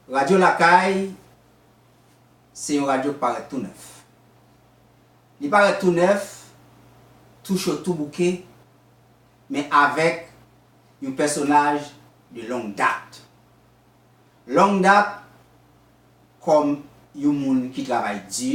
Radyo Lakay se yon radyo k parèt tou nèf. Li parèt tou nèf, tou cho tou bouke, men avèk yon pèsonaj de long dat. Long dat kòm yon moun ki travay di,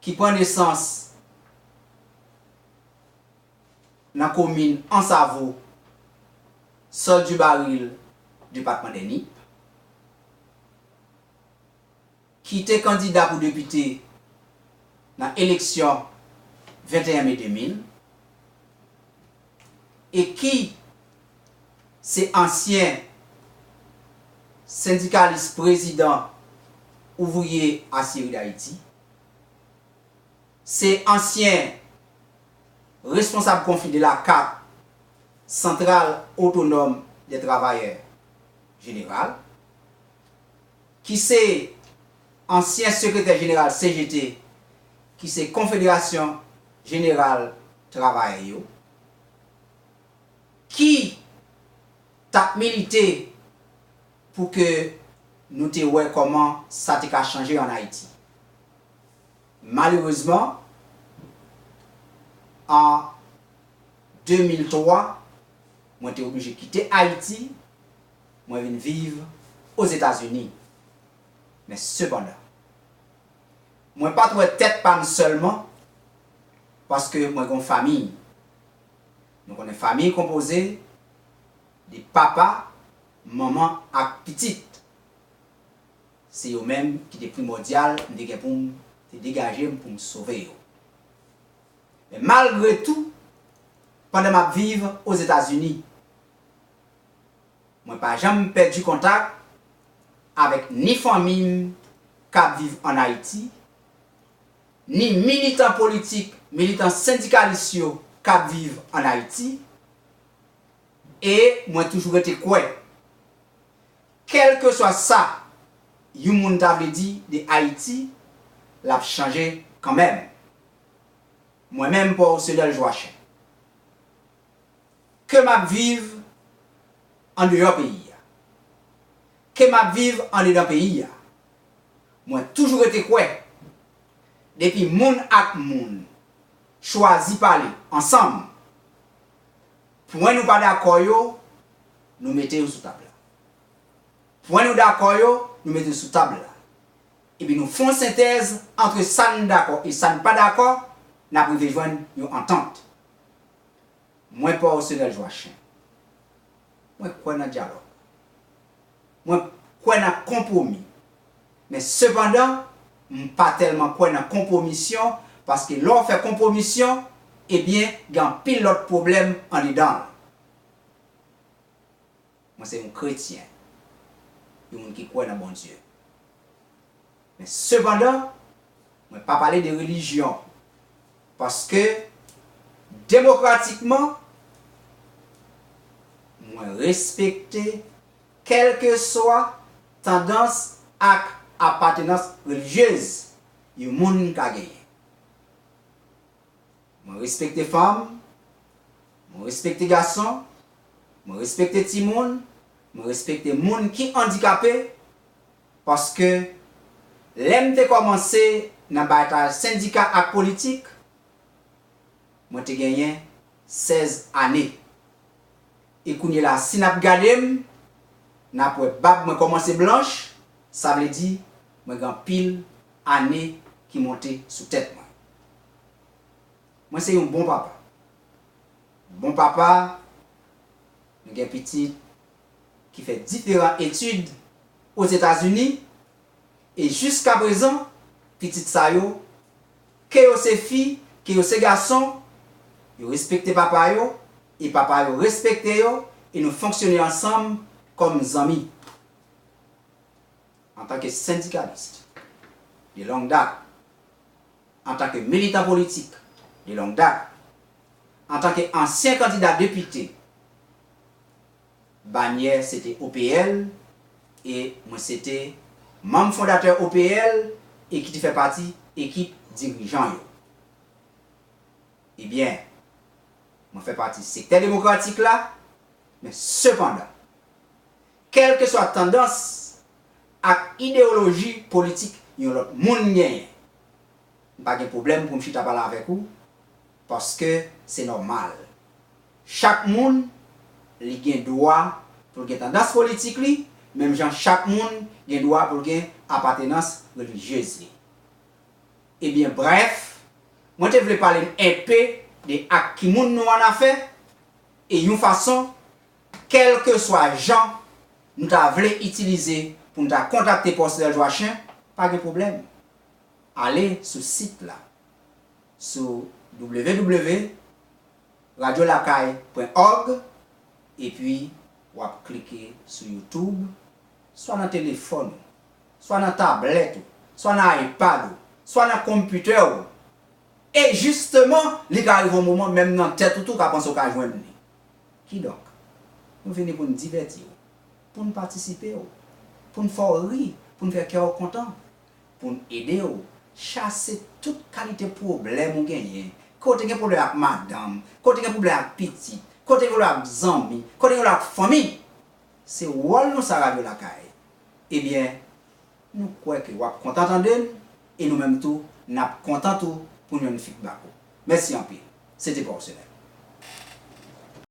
ki pran nesans nan komin Ansavo, Sòl di Baril, depatman de Nip, ki te kandida pou depite nan eleksyon 21 me 2000. e ki se ansyen sendikalis prezidan ouvriye asyeri dayiti, se ansyen responsab konfli de la kat santral otonòm dè travayè jeneral. ki se ansyen sekretè jeneral CGT, ki se Konfederasyon jeneral travayè yo, ki t ap milite pou ke nou te wè kòman sa te ka chanje an Ayiti. Malerezman, an 2003, mwen te oblije kite Ayiti mwen vin viv Ozetazini. Men sepandan, mwen pa t wè tèt pa m sèlman paske mwen gen yon fami. Nou konnen fami konpoze de papa, manman ak pitit. Se yo menm ki te primòdyal m te gen pou m te degaje m pou m sove yo. Men malgre tou, pandan m ap viv Ozetazini, Mwen pa janm pèdi kontak avèk ni fanmi m k ap viv an Ayiti, ni militan politik, militan sendikalis yo k ap viv an Ayiti e mwen toujou rete kwè kèlkeswa sa yon moun ta vle di de Ayiti, l ap chanje kanmenm. Mwen menm Paul Cedel Joachim. Ke m ap viv andeyò peyi a, ke m ap viv andedan peyi a, mwen toujou rete kwè depi moun ak moun chwazi pale ansanm, pwen nou pa dakò yo, nou mete yo sou tab la. Pwen nou dakò yo, nou mete yo sou tab la. Epi nou fon sentèz antre sa n dakò e sa n pa dakò, n ap rive jwenn yon antant. Mwen pa w senèl jwa chen. Mwen kwè nan dyalòg. Mwen kwè nan konpwomi. Men sepandan, m pa tèlman kwè nan konpwomisyon paske lè w fè konpwomisyon, ebyen gen anpil lòt pwoblèm andedan l. Mwen se yon kretyen, yon moun ki kwè nan Bondye. Men sepandan, mwen pa pale de relijyon, paske demokratikman, mwen respekte kèlkeswa tandans ak apatenans relijyez yon moun ka genyen. Mwen respekte fanm, mwen respekte gason, mwen respekte timoun, mwen respekte moun ki andikape, paske lè m te kòmanse nan batay sendika ak politik, mwen te genyen 16 ane. E kounyela si n ap gade m, n ap wè bab mwen kòmanse blanch, sa vle di mwen gen anpil ane ki monte sou tèt mwen. Mwen se yon bon papa. Bon papa, m gen pitit ki fè diferan etid Ozetazini e jiskaprezan pitit sa yo, ke yo se fi, ke yo se gason, yo respekte papa yo e papa yo respekte yo e nou fonksyone ansanm kòm zanmi. Antanke sendikalist de long dat, antanke militan politik de long dat, antanke ansyen kandida depite, banyè se te OPL, e mwen se te manm fondatè OPL e ki te fè pati ekip dirijan yo. Ebyen, mwen fè pati sektè demokratik la, men sepandan, Kèlkeswa tandans ak idewoloji politik yon lòt moun genyen, m pa gen pwoblèm pou m chita pale avèk ou paske se nòmal. Chak moun li gen dwa pou l gen tandans politik li menm jan chak moun gen dwa pou l gen apatenans relijyez li. Ebyen brèf, mwen te vle pale n enpe de ak ki moun nou annafè e yon fason Kèlkeswa jan nou ta vle itilize pou nou ta kontakte pòs Lèl Jwachen, pa gen pwoblèm. Ale sou sit la sou www.radiolakay.org epi w ap klike sou YouTube, swa nan telefòn ou, swa nan tablèt ou, swa nan iPad ou, swa nan konpitè ou. E jisteman, li ka rive yon moman menm nan tèt ou tou w ka panse w ka jwenn li. Kidonk, nou vini pou n divèti w, pou n patisipe w, pou n fè w ri, pou n fè kè w kontan, pou n ede w chase tout kalite pwoblèm ou genyen, ke w te gen pwoblèm ak madanm, ke w te gen pwoblèm ak pitit, ke w te gen pwoblèm ak zanmi, ke w te gen pwoblèm ak fanmi. Se wòl nou sa Radyo Lakay. Ebyen, nou kwè ke w ap kontan tande n e nou menm tou nap kontan tou poun jwenn feedback ou. Mèsi anpil. Se te pa w semèn.